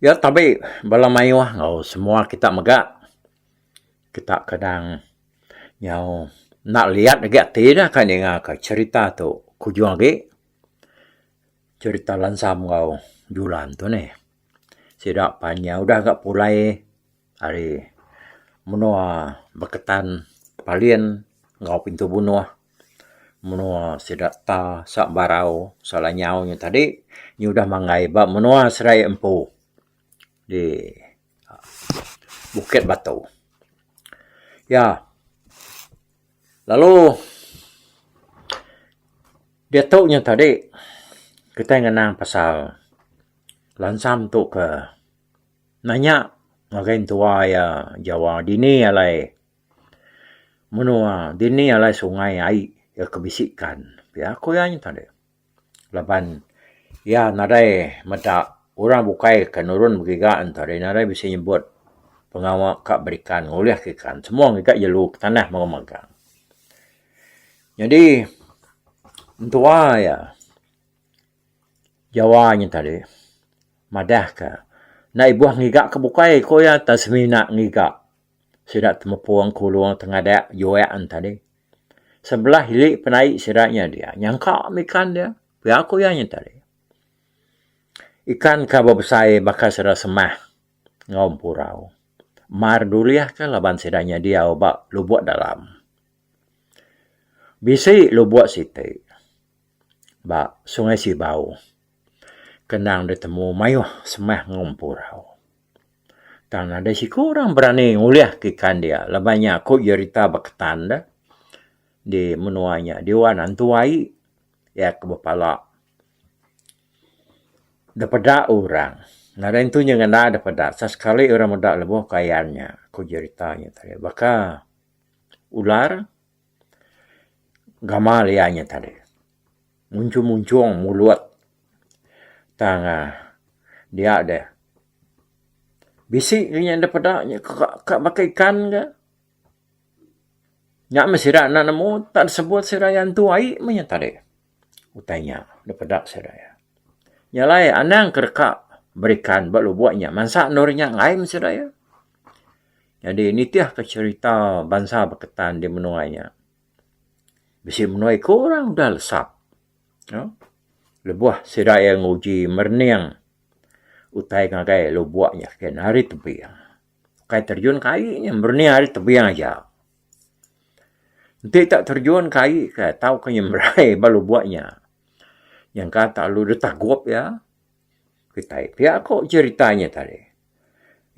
Iya tabi bala mayuh enggau semua kita mega kita kadang nyau enda liyat agi ati ne kai ninga ka cherita tu ku ujung agi cherita Lansam enggau Julan tu neh. Sida pan iya udah ga pulai. ari menua Beketan, Palin enggau Pintu Bunoh. Menua sida ta Sak Barau, Sak Lanyau nya tadi nya udah manggai ba menua Serai Empu di Bukit Batu. Ya. Lalu diatu nya tadi kitai ngenang pasal lansam tu ke. Nanya ngagai entua iya jawa dini alai menua dini alai sungai ai iya ke bisi ikan pia ku iya nyentang deh laban iya nadai meda orang bukai ke nurun begiga ento deh nadai bisi nyebut pengawa ka berikan ngulih ka ikan semua ngiga jelu ka tanah mega magang. Nyadi entua iya. Jawa nya tadi madah ka enda ibuh ngiga ka bukai ku iya tang semina ngiga sida temepung kulung tengadak juak nya tadi sebelah ili penai sida nya dia nyangka mih ikan dia pia ku iya nya tadi ikan ka bebesai baka sida semah enggau empurau mar dulih ka laban sida nya diau ba lubok dalam bisi lubok siti. ba Sungai Sibau ke endang ditemu mayuh semah enggau empu rau. Tang nadai siku orang berani ngulihka ikan dia laban nya ku jerita beketan da di menua nya diwan antu ai iya ke bepala da peda orang. Nadai antu inya ngena da peda tang sekali orang meda lebuh kayan nya ku jerita nya tadi baka ular. Gamal iya nya tadi munchung-munchung mulut tang uhh dia deh bisi lagi nya deh peda ka baka ikan ka. Nya meh sida anak nemu tan sebut sida iya ntu ai meh nya tadi. utai nya da peda sida iya. Nya alai anang ke deka berikan ba lubuk nya mansa endur nya enggai meh sida iya. Nyadi nitihka cherita bansa beketan di menua nya bisi menua iku orang udah lesap aaa lebuh sida iya nguji merening utai ngagai lubuk nya kitai ari tebing. Kai terjun ke ai nya merening ari tebing aja. Enti ita terjun ke ai ke tauka nyemrai balu buak nya nyangka tak lalu deh tagup iya kitai pia ko cerita nya tadi.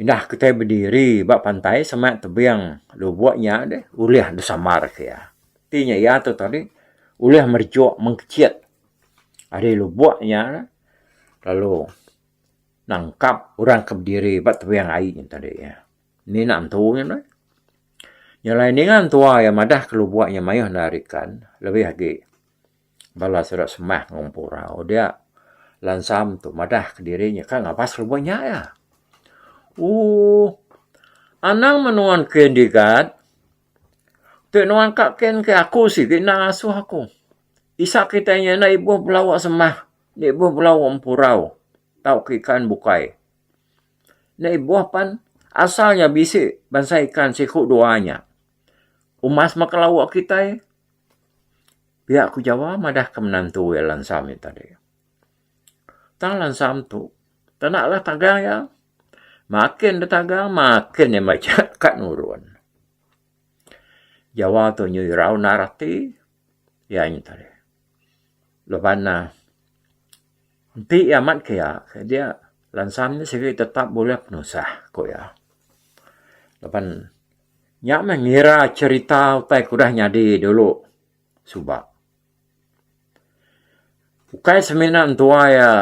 Indah kitai bediri ba pantai sema tebing lubok nya deh ulih disambar ke iya. Ti nya iya tu tadi ulih merejuk mengkecit ari lubok nya lalu nangkap orang ke bediri ba tebing ai nya tadi. Ni enda entu nya meh. Nya alai ninga entua iya madah ke lubok nya mayuh enda ari kan, lebih agi bala sida sembah enggau empu rau dia lansam tu madah ke diri nya ka ngabas lubok nya iya. Ooh anang meh nuan ke digat ti nuan ka ken ke aku sigi enda ngasuh aku. Isa kitai nya enda ibuh belawa sembah, enda ibuh belawa empu rau tauka ikan bukai. Enda ibuh pan asal nya bisi bansa ikan siku dua nya. Umas maka lawu kitai pia ku jawa madahka menantu iya lansa mek tadi. Tang lansa tu tana lah tagang iya. Makin deh tagang makin deh mejek ka nurun. Jawa tu nyau irau nara ati iya nya tadi. Leban neh Enti iya amat ke iya, ke dia lansam nya sigi tetap bulih penusah, ku iya. Laban nya meh ngira cherita utai ke udah nyadi dulu suba. Ukai semina entua iya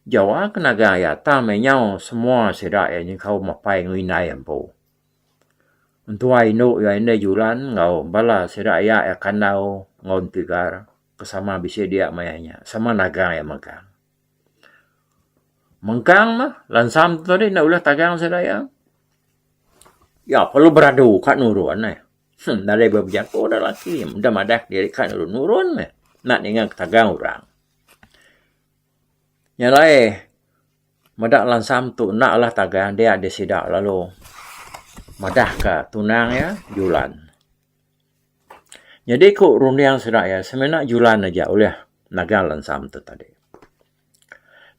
jawa ke nagang iya tang meh nyau semua sida iya nyengkau mapai enggau indai empu. Entua indu iya indai Julan enggau bala sida iya iya kandau enggau Entegar. Ke sama bisi dia maya nya. Sama nagang iya mengkang. Mengkang mah lansam tu tadi enda ulih tagang sida iya. Iya perlu beradu ka nurun eh. Hmm, nadai ba bejaku dah laki. Dah madah diri ka nurun. Nurun meh. Nak ninga ke tagang orang. Nya alai meda lansam tu enda alah tagang dia di sida lalu madah ka tunang iya Julan. Nyadi ku runding sida iya semina julan aja ulih nagang langsam tu tadi.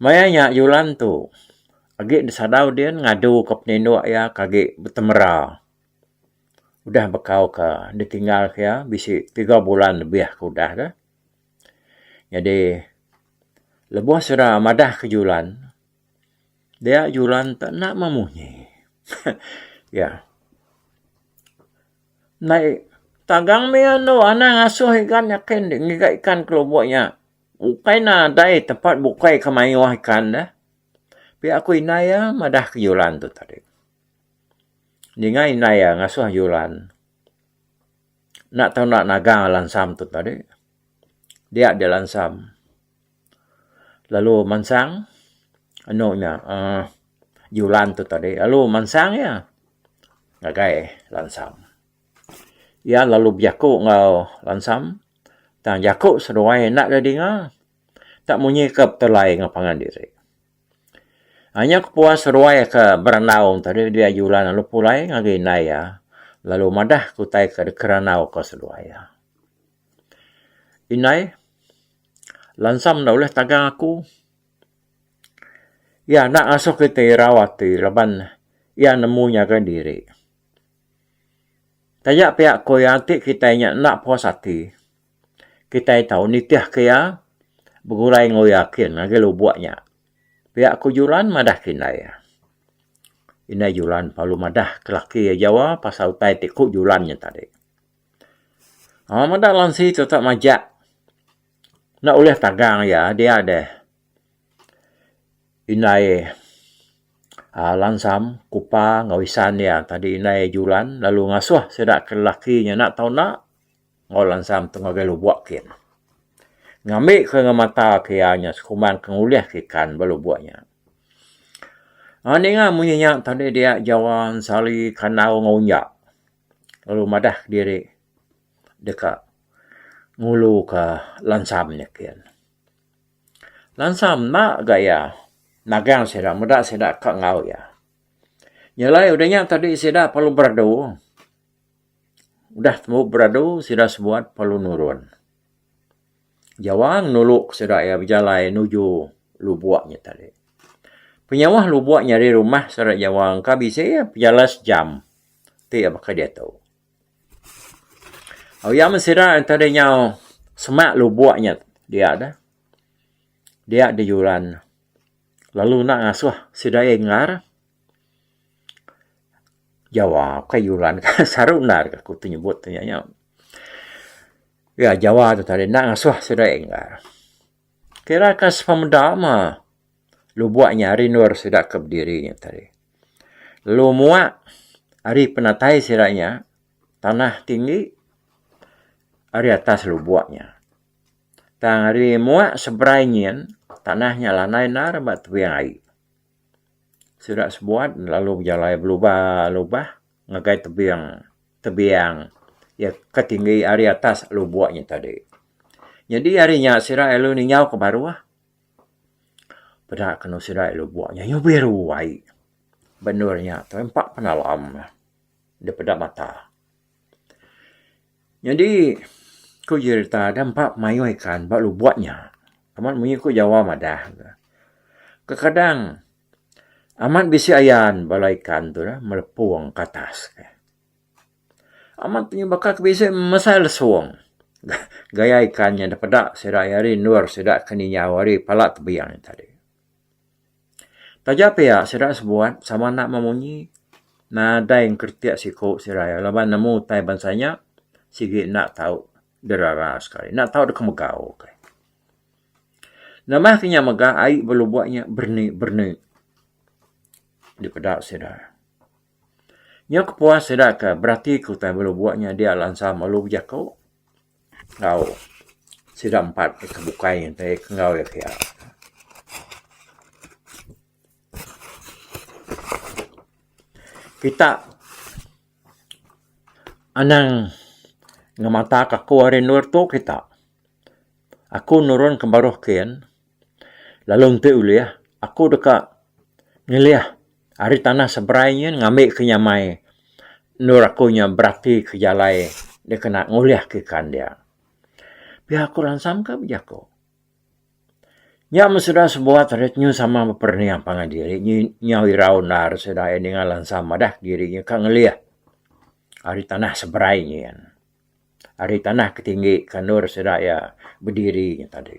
Maya nya julan tu agi disadau din ngadu ka penindok iya ka agi betemera udah bekau ka ditinggal ka iya bisi tiga bulan lebih ka udah ka. Nyadi lebuh sida madah ka julan dia julan tu enda meh munyi. Iya. Ndai. Tagang mih andu anang ngasuh igan nyakin deh ngiga ikan ke lubok nya. Ukai nadai tempat bukai ke mayuh ikan deh. Pia ku indai iya madah ke Julan tu tadi. Ninga indai iya ngasuh Julan enda tau enda nagang lansam tu tadi. Dia di lansam. lalu mansang anu nya um julan tu tadi lalu mansang iya ngagai lansam. Iya lalu bejaku enggau lansam tang jaku seduai enda deh dinga enda munyi ke betulai enggau pangan diri. Anyap kepuas seduai ke berandau tadi dia julan lalu pulai ngagai indai iya lalu madah ke utai ke dikerandau ke seduai iya. Indai, lansam enda ulih tagang aku. Iya enda ngasuh kitai irau ati laban iya nemu nyaga diri. Taja pia ku iya enti kitai nya enda puas ati, kitai tau nitihka iya begulai enggau iya kin ngagai lubuk nya. Pia ku Julan madahka indai iya. Indai Julan parlu madah ke laki iya jawa pasal utai ti ku Julan nya tadi. Amat meda lansi tetap majak enda ulih tagang iya dia deh indai aaa lansam kupa enggau isan iya tadi indai julan lalu ngasuh sida ke lelaki nya enda tau enda enggau lansam tu ngagai lubok kin ngambi ke enggau mata ke iya nya sekumbang ke ngulih ke ikan ba lubok nya. Aaa ninga munyi nya tadi dia Jawa, Ensali, Kandau enggau Unjak. lalu madah diri deka ngulu ka lansam nyiken. Lansam enda ga iya nagang sida meda sida ka enggau iya. Nyelai udah nya tadi sida perlu beradu. Udah tembu beradu sida sebuat perlu nurun. Jawang nulu sida iya bejalai nuju lubok nya tadi. Penyauh lubok nya ari rumah sida Jawang ka bisi iya bejalai sejam ti iya baka diatu. Au iya men sida tadi nyau semak lubok nya dia deh dia di juran lalu enda ngasuh sida iya engar Jawang ka juran saru endar aku ti nyebut nya. Iya Jawa tu tadi enda ngasuh sida Enggar. Kira ka sepemeda ma lubok nya ari endur sida ke bediri nya tadi. Lalu muak ari penatai sida nya tanah tinggi ari atas lubok nya. Tang ari muak seberai nyin tanah nya lanai endar ba tebing ai. Sida sebuat lalu bejalai belubah lubah ngagai tebing tebiang iya ke tinggi ari atas lubok nya tadi. Nyadi ari nya sida lalu ninjau ke baruh peda kenu sida ari lubok nya nyau biru ai. Ba endur nya tu empa penalam ne dep peda mata. Nyadi ku jerita deh empa mayuh ikan ba lubok nya. Amat munyi ku Jawa madah ne. Kekadang. Amat bisi ayan bala ikan tu neh melepong ke atas ke. Amat inya baka ke bisi mesai lesong gaya ikan inya da peda sida iya hari endur sida ke nginyau ari pala tebiang iya tadi. Taja pia sida sebuat sama enda meh munyi nadai engkretek siku sida iya laban nemu utai bansa inya sigi enda tau derara sekali enda tau deka megau. Nambah ke nya mega ai ba lubok nya berni-berni dipeda sida. Nya kepuas sida ke berati ke utai ba lubok nya dia lansa melu bejaku enggau sida empat ke bukai ngintai ke enggau iya ke iya. Kita anang ngemata ke aku ari endur tu kita. Aku nurun ke baruh kin, lalu enti ulih aku deka ngelih ari tanah seberai nyin ngambi ke nyamai endur aku nya berati ke jalai dikena ngulih ke ikan dia. Pia aku ransam ka bejaku. Nya meh sida sebuat ari penyu sama beperening pangan diri nyi nyau irau endar sida iya ninga lansam madah diri nya ka ngelih ari tanah seberai nyin. ari tanah ke tinggi kanur sida iya bediri nya tadi.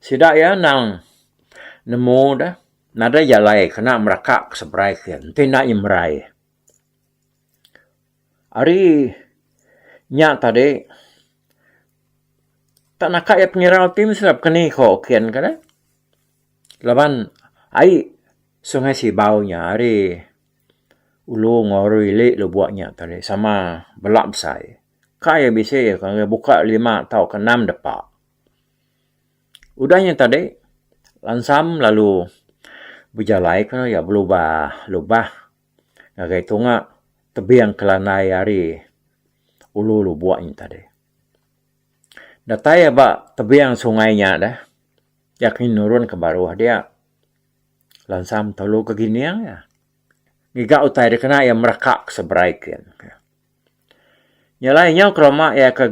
Sida iya endang nemu deh nadai jalai kena meraka ke seberai ke enti enda iya merai. Ari nya tadi tak naka iya pengirau ti mesti ira pekeni ko ken ke deh laban ai Sungai Sibau nya ari Ulu enggau ari ili lubok nya tadi sama bela besai. Kai iya bisi iya ke buka lima tau ke enam depa. Udah nya tadi langsam lalu bejalai ke iya belubah lubah ngagai tunga tebing ke lanai ari ulu lubok nya tadi. Datai iya ba tebing sungai nya deh iya ke nurun ke baruh dia. Lansam tolu ke gining iya. Ngiga utai dia kena iya meraka ke seberai kin. Nya alai nyau ke roma iya ke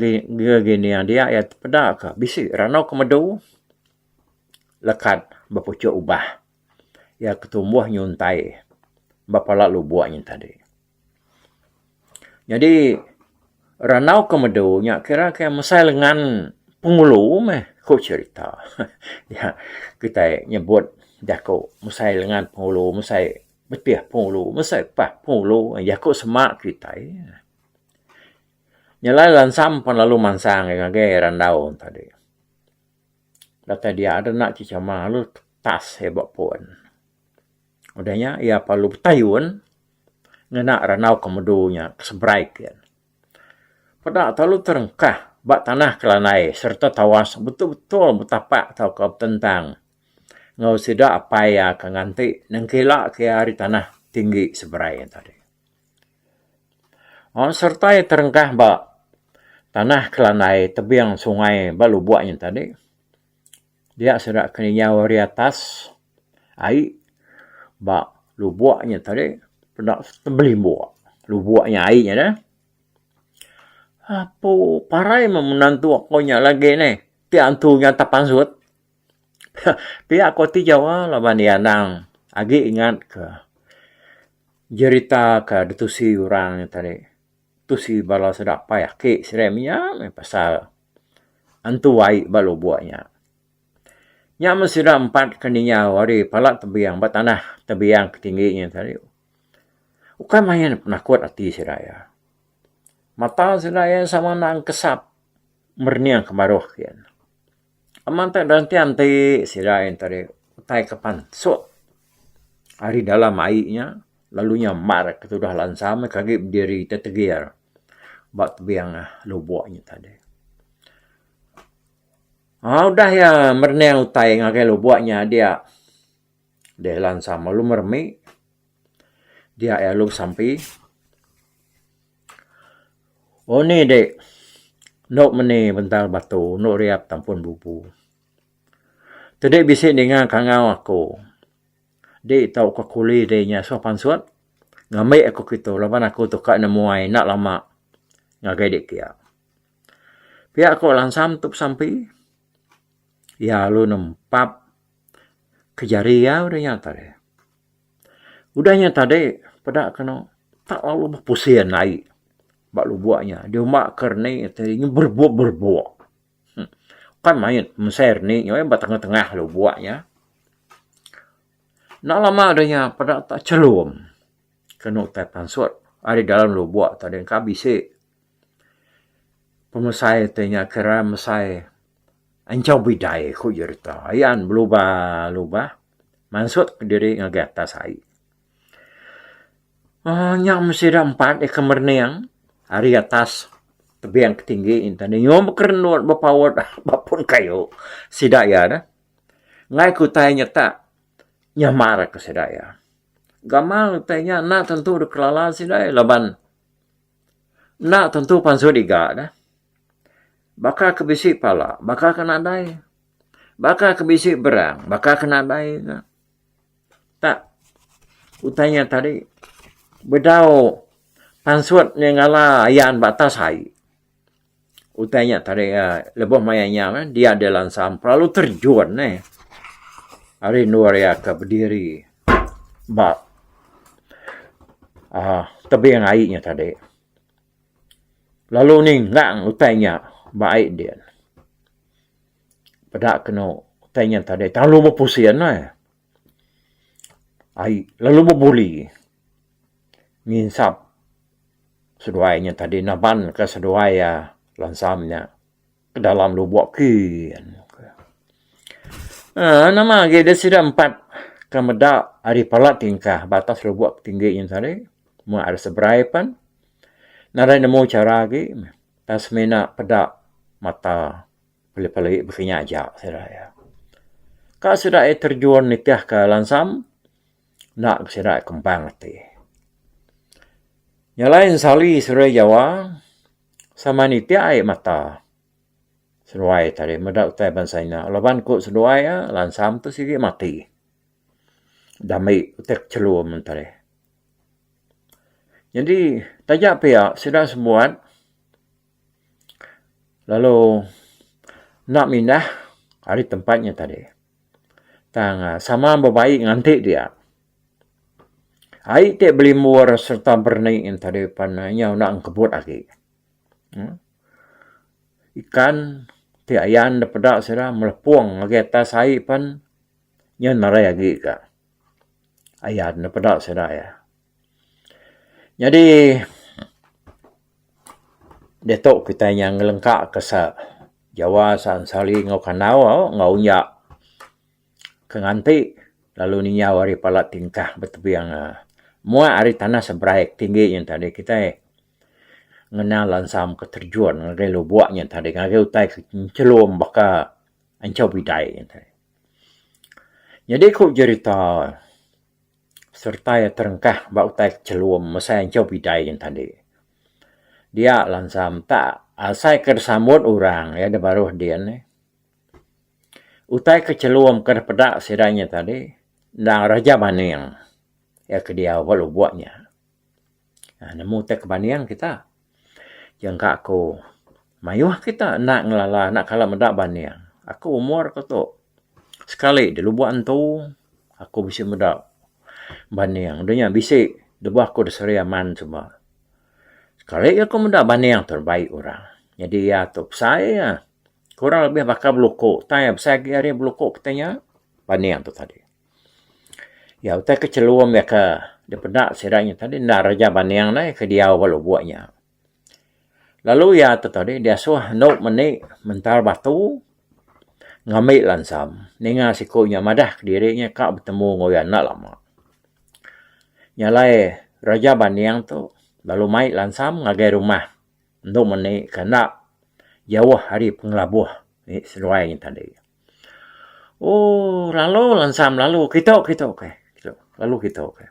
gining dia iya ti peda ke bisi ranu ke medu lekat bepuchuk ubah. Iya ke tumbuh nyuntai ba pala lubok nya tadi. Nyadi randau ke medu nya kira ke mesai lengan pengulu meh ku cerita iya kitai nyebut jaku mesai lengan pengulu mesai betih pengulu mesai pah pengulu jaku sema kitai. Nyelai lansam pan lalu mansang iya ngagai randau tadi. Datai dia deh enda chechama lalu tetas iya ba pun. Udah nya iya perlu betayun ngena randau ke medu nya ke seberai ke. Peda telalu terengkah ba tanah ke landai sereta tawas betul-betul betapak tauka betentang enggau sida apai iya ke nganti nengkila ke iya ari tanah tinggi seberai nya tadi. Aaa sereta iya terengkah ba tanah ke landai tebing sungai ba lubok nya tadi. Dia sida keninjau ari atas ai ba lubok nya tadi peda tebelimbuk lubok nya ai nya deh. Apo parai meh menantu aku nya lagi neh ti antu nya atas pansut. Pia ku ti jawa laban iya anang agi ingatka jerita ke ditusi orang nya tadi. Tu si bala sedapai aki serem iya meh pasal antu ai ba lubok iya. Nya men sida empat ke ninggau ari pala tebing ba tanah tebing ke tinggi nyin tadi ukai main penakut ati sida iya. Mata sida iya sama nang kesap merening ke baruh gin. Amat meh berantian ti sida ain tadi utai ke pansut ari dalam ai nya lalu nya mar ke tudah lansa meh ke agi bediri tetegir ba tebing lubok nya tadi. Aaa udah iya merening utai ngagai lubok nya dia Dia ila ensam lalu meremi dia iya lalu besampi. Oh ni dek endo meni bendar batu endo riap ta pun bubu. Tadi bisi ninga kangau aku di tau ka kuli dei nya suah pansut ngembi aku kitu laban aku tu ka nemuai enda lama ngagai dek kia. Pia ko ila ensam tu besampi iya lalu nempap. Keja riau deh nya tadi. Udah nya tadi peda kenu tak lalu bepusin ai ba lubok nya di uma ke reni ti berebok berebok. Kan mayit mesai reni nya meh ba tengah tengah lubok nya. Enda lama deh nya peda tak chelum kenu tai pansut ari dalam lubok tadi ka bisi pemesai ti nya kira mesai. Enchau bidai, ku Jerita. Iya an belubah-lubah mansut kediri ngagai atas ai. Aaa, nya meh sida empat deka merening ari atas tebing ke tinggi inta ne. Nyuh bekerenut bepaut ba pun kayu sida iya neh. Ngai ke utai nya tak, nyamarka sida iya. Gamal utai nya enda tentu dikelala sida iya laban. Enda tentu pansut iga dah. Baka ke bisi pala, baka ke nadai. Baka ke bisi berang, baka ke nadai ka. Tak, utai nya tadi bedau pansut nya ngala ayan ba atas ai. Utai nya tadi eh, lebuh maya nya eh, dia di lansa pelalu terjun eh. Ari indu ari aka bediri ba uh, tebing ai nya tadi. Lalu ninggang utai nya ba ai din. Peda kenu utai nya tadi terlalu bepusin eh. Ai lalu bebuli nginsap seduai nya tadi naban ka seduai iya lansam nya ke dalam lubok kin uhh nama agi deh sida empat ke meda ari pala tingkah ba atas lubok tinggi nya tadi meh ari seberai pen nadai nemu chara agi meh pas semina peda mata. Lepa lagi bisi nya aja sida iya. Ka sida iya terjun nitih ka lansam enda ga sida iya kembang ati. Nya alai ensali seruai Jawa sama nitih ai mata seduai tadi meda utai bansa nya laban ku seduai iya lansam tu sigi mati dami utek chelum tadi. Nyadi taja pia sida sebuat. Lalu enda mindah ari tempat nya tadi tang sama bebai nganti dia. Ai ti belimbur sereta berani nya tadi pan inya enda kebut agi uhh ikan ti ayan dep peda sida melepong ngagai atas ai pan inya narai agi ga ayan dep peda sida iya. Nyadi diatu kitai nyang ngelengka ka sa Jawa San Sali enggau Kandau enggau nya ke nganti lalu ninyau ari pala tingkah betebing mua ari tanah seberai ke tinggi nya tadi kitai ngena lansam ke terjun ngagai lubok nya tadi ngagai utai ke nyelum baka Anchau Bidai. Nyadi ku jerita. sereta iya terengkah ba utai ke chelum mesai enchau pidai yen tadi. Dia lansa mta asai ke sambut orang iya da baruh din nih. Utai ke chelum ke deh peda sida nya tadi endang Raja Maning iya ke diau ba lubok nya. uhh nemu utai ke banding kita nyangka aku mayuh kita enda ngelala enda kala meda banding. Aku umur ku tu sekali di lubok entu aku bisi meda banding deh nya bisi de bah ku de Sri Aman suba. Sekali ku meda banding tu bai orang. Nyadi iya tu besai iya kurang lebih baka beluko tai besai agi ari beluko kita nya banding tu tadi. Iya utai ke chelum iya ke dipeda sida nya tadi enda reja banding alai ke diau ba lubok nya. Lalu iya te tadi diasuh endu meni mentar batu ngambi lansam ninga siku nya madah kediri nya ka betemu enggau iya enda lama. Nya alai reja banding tu lalu mai lansam ngagai rumah endu meni ke enda jauh ari pengelabuh seduai nya tadi. Ooh lalu lah ensam lalu kito kito ke lalu kito ke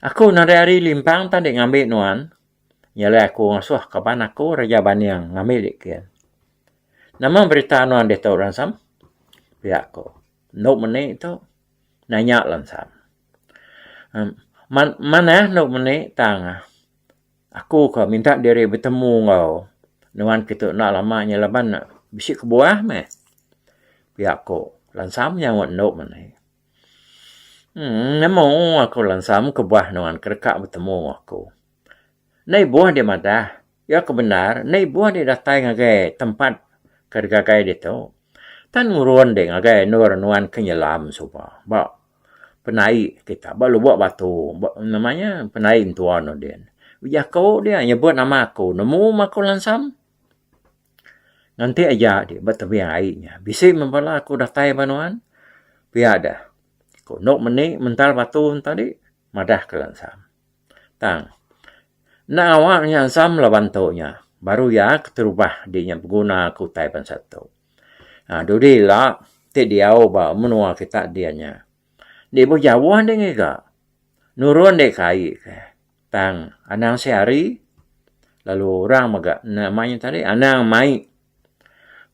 aku eno ari ari limpang tadi ngambi nuan iya alai aku ngasuh kaban aku reja baning ngambi dik ken nama berita nuan ditu ra ensam pia ko endo meni tu nanya la ensam man man eh endo meni tang Aku ka minta diri betemu enggau nuan kitu enda lama nya laban ne bisi kebuah meh pia ku Lansam nyaut endo meneh. Emm nemu aku Lansam kebuah nuan ke deka betemu enggau aku. Enda ibuh deh madah. Iya ke bendar enda ibuh deh datai ngagai tempat ke digagai ditu. Tan ngurun deh ngagai endur nuan ke nyelam suba ba penai kita ba lubok batu ba nama nya penai entua no din. Ku jaku dia nyebut nama aku nemu meh aku langsam nganti aja di ba tebing ai nya bisi meh bala aku datai ba nuan pia deh ku endo meni mental batu nya tadi madah ke langsam. Tang enda ngawa ke langsam laban tu nya baru iya keterubah di nya beguna aku tai bansa tu. Haa dudi ila ti diau ba menua kita dian nya. Enda ibuh jauh deh ngiga. Nurun deh kai ke tang anang sehari lalu orang mega nama nya tadi anang mai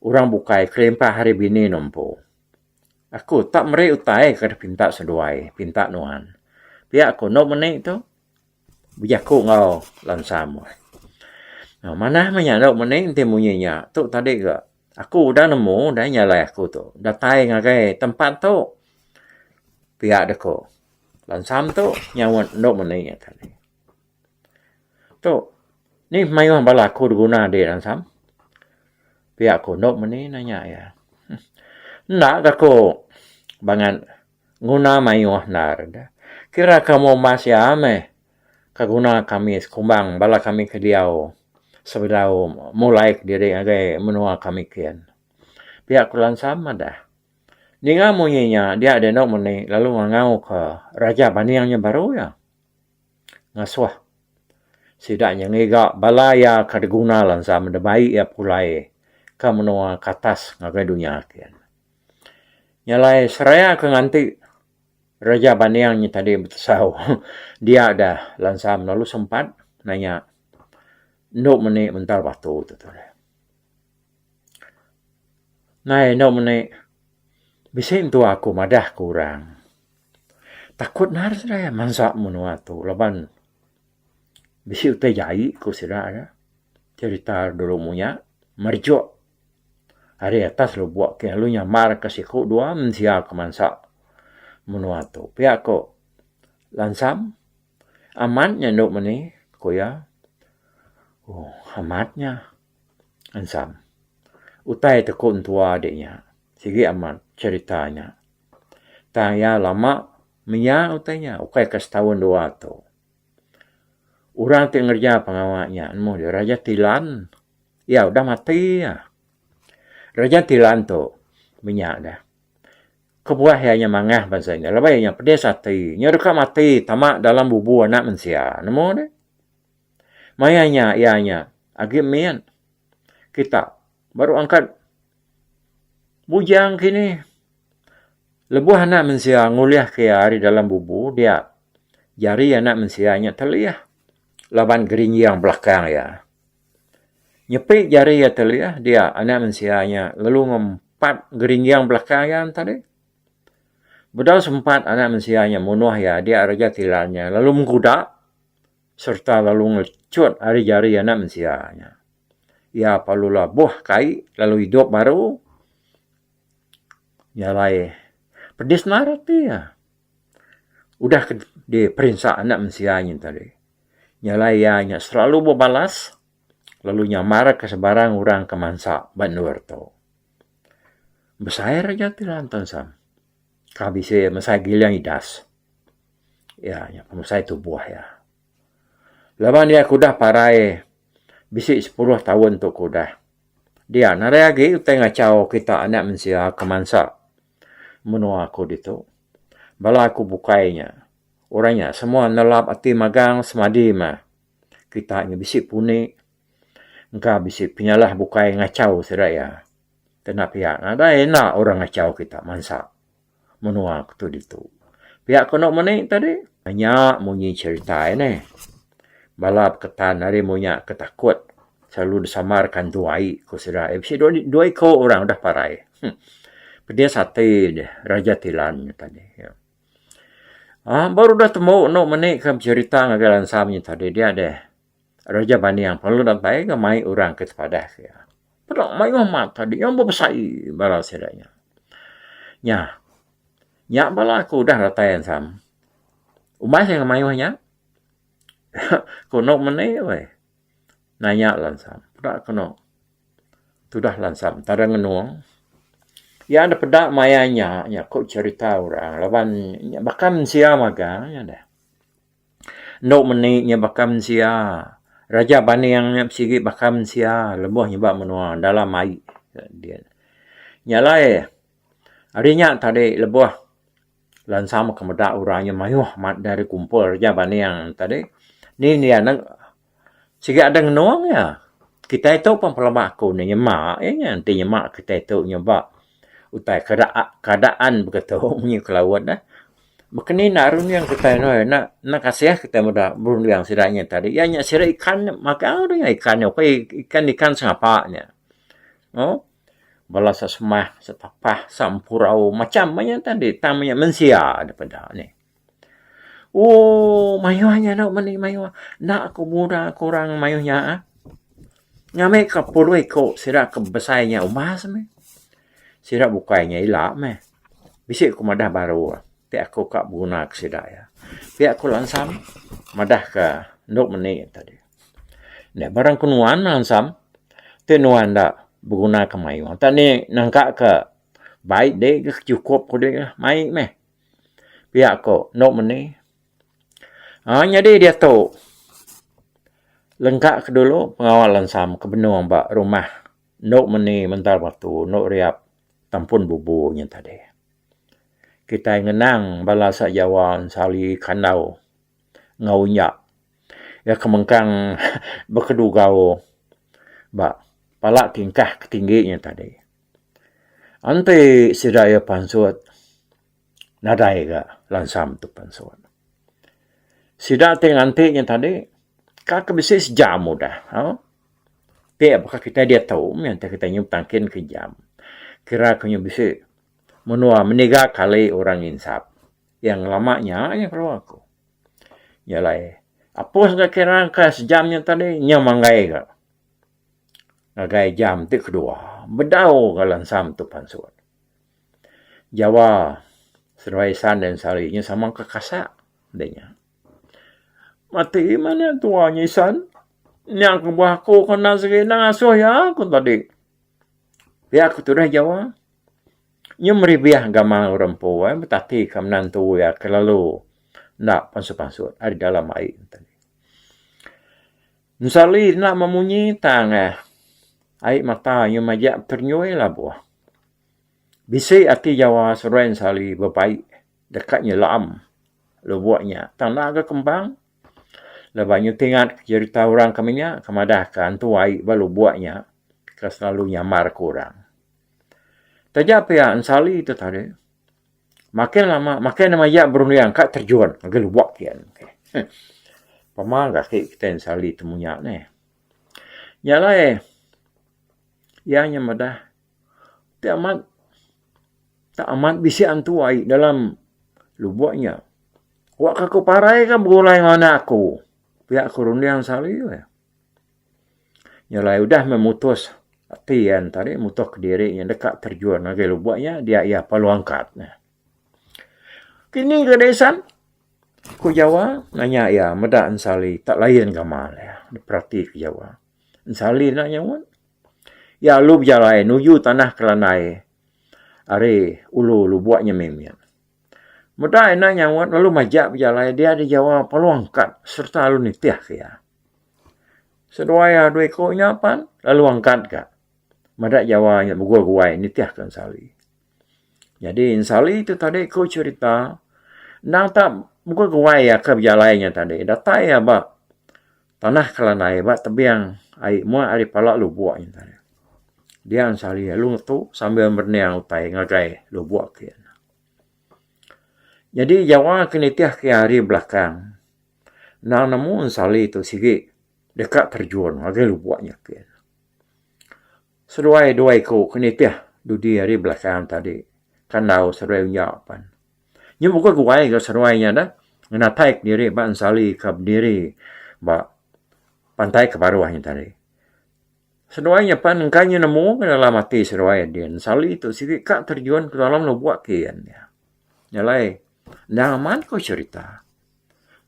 orang bukai kelimpah ari bini ne empu. Aku tak meri utai ke pinta seduai pinta nuan. Pia ku enda meni tu. Bejaku enggau lansa meh. Manah meh nya dau mending enti munyi nya. Tu tadi ke aku udah nemu udah nya alai aku tu. Datai ngagai tempat tu pia deh ku lansa tu nyaut enda meni nya tadi. Tu nih mayuh bala aku diguna di lansa. Pia ku enda meni nanya iya. Enda ke ku bangat. Nguna mayuh endar da kira ka umur mas iya meh ka guna kami sekumbang bala kami ke diau sebedau mulai kediri ngagai menua kami kin. Pia ku Lansam madah, ninga munyi nya dia deh enda meni lalu ngangau ka Raja Baning nya baru iya ngasuh sida nya ngiga bala iya ka diguna Lansam deba iya pulai ka menua ke atas ngagai dunya kin. Nya alai seraya ke nganti reja banding nya tadi betesau dia ga lansa melalu sempat nanya endo meni mental batu tu tu deh. Nai endo meni bisi entu aku madah ke orang takut ngan seraya mansa menua tu laban bisi utai jai ku sida nya cerita dulu munya merejuk. Ari atas lubok ti lalu nyamar ka siku dua mensia ke mansa menua tu pia ko lansam amat nya endo meni ko iya ooh amat nya lansam utai te ko entua de nya sigi amat cerita nya tang iya lama mia utai nya ukai ka setaun dua tu orang ti ngereja pengawa nya nemu dia raja tilan. Iya udah mati iya. Reja ti lan tu meh nya dah. Kebuah iya nya mangah bansa nya laban iya nya pedis ati. Nya deka mati tama dalam bubu anak mensia. Nemu deh. Maya nya iya nya agi min kita baru angkat bujang kinih. Lebuh anak mensia ngulih ke iya ari dalam bubu dia jari anak mensia nya telih laban gerinjing belakang iya. Nyepi jari iya ti lih dia anak mensia nya lalu ngempat geringging belaka iya enta dih. Bedau sempat anak mensia nya munuh iya dia Raja Tilan nya lalu mengkuda sereta lalu ngelecut ari jari anak mensia nya. Iya lalu labuh kai lalu idup baru nyalai pedis ngarap iya. udah ke diperinsa anak mensia nyin tadi nya alai iya nya selalu bebalas lalu nyamar ke sebarang orang ke mansa ba endur tu. Besai ra nya ti lantun sam. Ka bisi mesai giling idas. Iya nya pemesai tubuh iya. Laban iya ke udah parai bisi sepuluh taun tu ke udah dia narai agi utai ngachau kita anak mensia ke mansa. menua aku ditu. Bala aku bukai nya, orang nya semua nelap ati magang semadi meh. Kita nya bisi puni engka bisi penyalah bukai ngachau sida iya. Kena pia nadai enda orang ngachau kita mansa menua aku ditu. Pia ku anu meni tadi, nya munyi cherita iya neh. Bala beketan ari munya ke takut selalu disamar ka entu ai ku sida ai bisi dua iko orang udah parai huh pedis ati deh Raja Tilan ngetan nya iya. Aaa baru udah tembu eno meni ke beserita ngagai lansa manya tadi dia deh Raja Baniang lalu datai ga mai orang ke sepadah ke iya. Peda mayuh mat tadi iya bebesai bala sida nya. Nya nya bala ke udah datai ensam umbas iya ga mayuh nya Kono mene weh nanya lansam peda kono tudah lansam tadeng ngenung iya da peda maya nya nya ku cerita orang laban nya baka mensia magang nya deh. Enu mene nya baka mensia raja baning nya sigi baka mensia lebuh nyeba menua dalam ai. Nya alai ari nya tadi lebuh. Lansa mega meda orang nya mayuh amat da deh kumpul reja ba Neang tadi. Ni dia neg sigi adeh ngenung iya. Kitai tu pun pelaba aku ne nyema iya nya enti nyema kitai tu nyuba utai keda keadaan begitu munyi ku laut deh. Maka ni enda runding kitai noi enda enda kasih kitai meda berunding sida nya tadi. Iya nya siri ikan nya magang deh nya ikan nya. Ikan ikan sengapa nya. Au. bala sa semah, sa tapah, sa empurau macham aja enta deh tang inya mensia deh peda nih. Ooh mayuh inya enda meni mayuh. Enda ku muda ku orang mayuh nya ah. Ngambi ka pulih ku sida ke besai inya umbas meh. Sida bukai inya ila meh. Bisi ku madah baru ah. Ti aku ka beguna ke sida iya. Pia ku langsam madah ka enda meni enta deh. Nya barang ke nuan ansam ti nuan enda beguna ke mayuh enti ni nengka ke bai dei ke chukup kudi lah mai meh pia ko endo meni aaa nyadi diatu lengka ke dulu pengawa lansam ke benung ba rumah endo meni mental batu endo riap tempun bubu nyen tadi kitai ngenang bala sajawa ensali kandau. enggau nya iya ke mengkang bekedugau ba pala tingkah ke tinggi nya tadi. Enti sida iya pansut nadai ga lansam tu pansut. Sida ti nganti nya tadi ka ke bisi sejam udah ha ti baka kitai diatu mih enti kitai nyup tangkin ke jam kira ke nya bisi menua meniga kali orang nginsap. Iya ngelama nya aja kerewa aku. Nya alai Apus ga kira ka sejam nya tadi nya manggai ga. Ngagai jam ti kedua bedau ga lansam tu pansut. Jawa Seduai Isan dan Sari nya sama ka kasa deh nya. Mati mana tua nya isan. Nya kebuah aku ke enda segi enda ngasuh iya aku tadi. Pia ku tudah Jawa nyau meribih gamal orang empu ai betati ka menantu iya ke lalu enda pansut-pansut ari dalam ai. Ensali enda meh munyi tang eh ai mata inya majak terenyui labuh. Bisi ati Jawa seruai ensali bebai deka nyelaem lubok nya tang enda ga kembang. Laban nya tingat jerita orang kami nya ke madah ke antu ai ba lubok nya ke selalu nyamar ke orang. Taja pia ensali tu tadi makin lama makin nama ia berunding ka terjun ngagai lubok ke kian. Heh pema ke ati kitai ensali ti munyak neh. Nya alai ia nya madah. Ti amat ti amat bisi antu ai dalam lubok nya. Wak ka ku parai ka begulai nganak aku. Pia ku runding selalu eh. Nyelai udah meh mutus ati iya tadi mutus kediri iya deka terjun ngagai lubok nya dia iya perlu angkat ne. Kini ke disan ku Jawa nanya iya meda ensali tak layan gamal iya diperatika Jawa. Ensalin nya nyauan. Iya alu bejalai nuju tanah Kerandai ari Ulu Lubok nya mih mia. Meda ina nyauan lalu majak bejalai dia di Jawa Palu Angkat serta lalu nitih ke iya. Seduai iya dua iku nya pan lalu angkat ka meda Jawa nya Bugul Guai nitih ke Ensali. Jadi Ensali ti tadi ku cherita endang ta Bugul Guai aka bejalai nya tadi datai iya ba Tanah Kelanai ba tebing ai mua ari pala lubok nya tadi. Dian sehari lalu ngetu sambil merening utai ngagai lubok ke. Nyadi Jawa ke nitih ke hari belakang endang nemu sehari tu sigi deka terjun ngagai lubok nya ke. Seduai dua iku ke nitih dudi hari belakang tadi ke enggau seduai unya pan. Nya bukai ku wai ga seruai nya dah ngenatai ke diri ba ensali ka bediri ba pantai ke baruh nya tadi. Seduai nya pan engka inya nemu ke dalam ati seduai nya din ensali tu sigi ka terjun ke dalam lubok ke iya nya. Nya alai endang amat ku serita.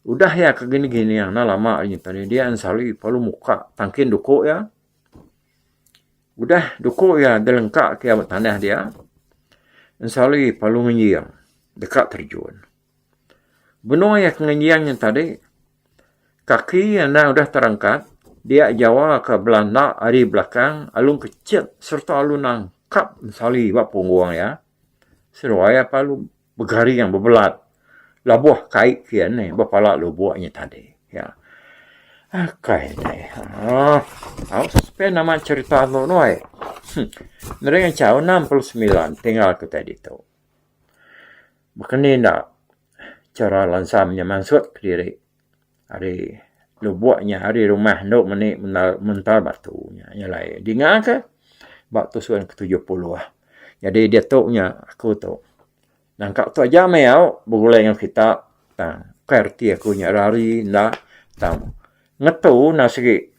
Udah iya ke gini-gini enda lama nya tadi dia ensali lalu muka tangkin duku iya. Udah duku iya deh lengka ke iya meh tanah dia, ensali palu ngenjing deka terjun. Benung iya ke ngenjing nya tadi, kaki iya enda udah terangkat, dia jawa ke bala enda ari belakang alung kechet sereta alung nangkap ensali ba punggung iya, seduai iya palu. Begaring bebelat labuh kai kian neh bepala lubuk nya tadi. Ya. Akai deh. Ha. Au suspend nama cerita tu noi. Hmm. Nering enchau 69 tinggal ku tai ditu. Bekeni enda cara lansam nya mansut kediri. Ari lubuk nya ari rumah endo meni mental batu nya nyelai dinga ke ba tusun ke tujuh puluh jadi diatu nya aku tu nangka tu aja meh au begulai ngan kita tang ukai reti aku nya rari enda tang ngetu enda segi.